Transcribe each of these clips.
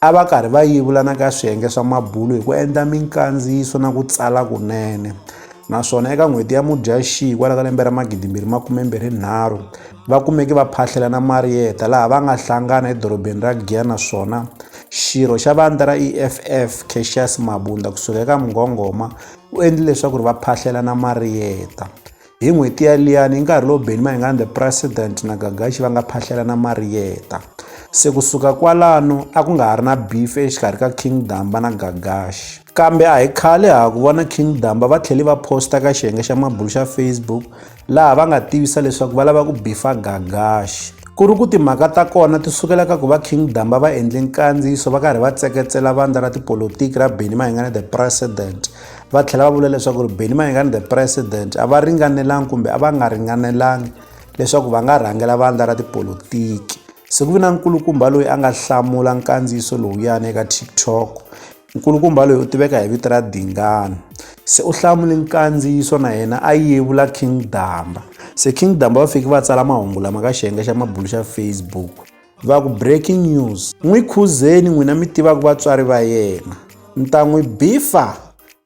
a va karhi va yevula na ka swiyenge swa mabulo hi ku endla minkandziyiso na ku tsala kunene naswona eka n'hweti ya mudyaxihi kwala ka lembe ra magidimbirhi makumembirhi nharhu va kumeke va phahlela na mariyeta laha va nga hlangana edorobeni ra giya naswona xirho xa vandla ra eff caxias mabunda kusuka eka mngongoma u endle leswaku ri va phahlela na mariyeta Hi n'hweti yaliyani, hi nkarhi lowu Benny Mayengani the President na Gagashi va nga phahlelana mariyeta. Se ku suka kwalano, a ku nga ha ri na beef exikarhi ka King Damba na Gagashi. Kambe a hi khale ha ha ku vona King Damba va tlhele va posta ka xiyenge xa mabulu xa Facebook laha va nga tivisa leswaku va lava ku bifa Gagashi. Ku ri ku timhaka ta kona ti sukela ka ku va King Damba va endle nkandziyiso va karhi va tseketsela vandla ra tipolotiki ra Benny Mayengani the President va tlhela va vula leswaku ri Benny Mayengani the president a va ringanelanga kumbe a va nga ringanelanga leswaku va nga rhangela vandla ra tipolotiki se ku vi na nkulukumba loyi a nga hlamula nkandziyiso lowuyani eka tiktok nkulukumba loyi u tiveka hi vito ra dingana se u hlamule nkandziyiso na yena a yevula king damba se king damba va fiki va tsala mahungu lama ka xiyenge xa mabulu xa facebook va ku breaking news n'wi khuzeni n'wina mi tivaka vatswari va yena mi ta n'wi bifa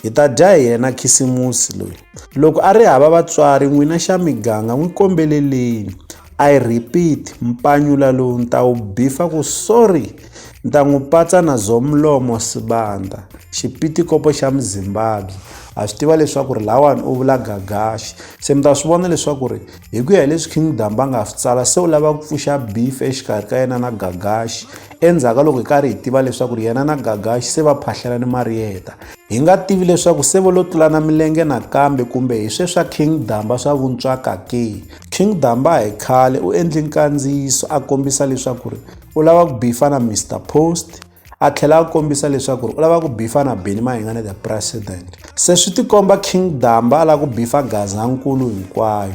hi ta dya hi yena khisimusi loyi loko a ri hava vatswari n'wina xa miganga n'wi kombeleleni i repeat mpanyula lowu ni ta wu bifa ku sorry ni ta n'wi patsa na zomlomo sibanda xipitikopo xa muzimbabwe ha swi tiva leswaku ri lawani u vula gagaxi se mi ta swi vona leswaku ri hi ku ya hi leswi king damba nga swi tsala se u lava ku pfuxa beef exikarhi ka yena na gagaxi endzhaku ka loko hi karhi hi tiva leswaku ri yena na gagaxi se va phahlela ni mariyeta hi nga tivi leswaku se vo lo tlulana milenge nakambe kumbe hi swe swa king damba swa vuntswaka ke king damba hi khale u endle nkandziyiso a kombisa leswaku ri u lava ku bifa na mr post a tlhela a kombisa leswaku u lava ku bifa na beni mahingane the president se swi tikomba king damba a lava ku bifa gazankulu hinkwayo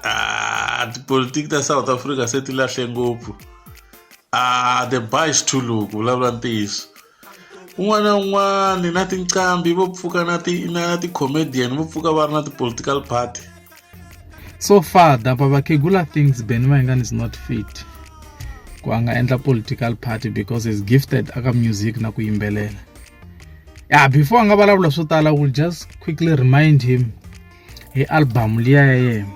ah, tipolitiki ta south africa se ti lahle ngopfu ah, the bice to look vulavula ntiyiso un'wana na un'wana na tinqambi vo pfuka na ti-comedian vo pfuka va ri na ti-political party so far dapa vakhegula thinks ben mayengani is not fit ku a nga endla political party because is gifted aka music na ku yimbelela ya before a nga vulavula swo tala will just quickly remind him hi album liya ya yena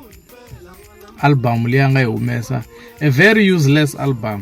album liya nga yi humesa a very useless album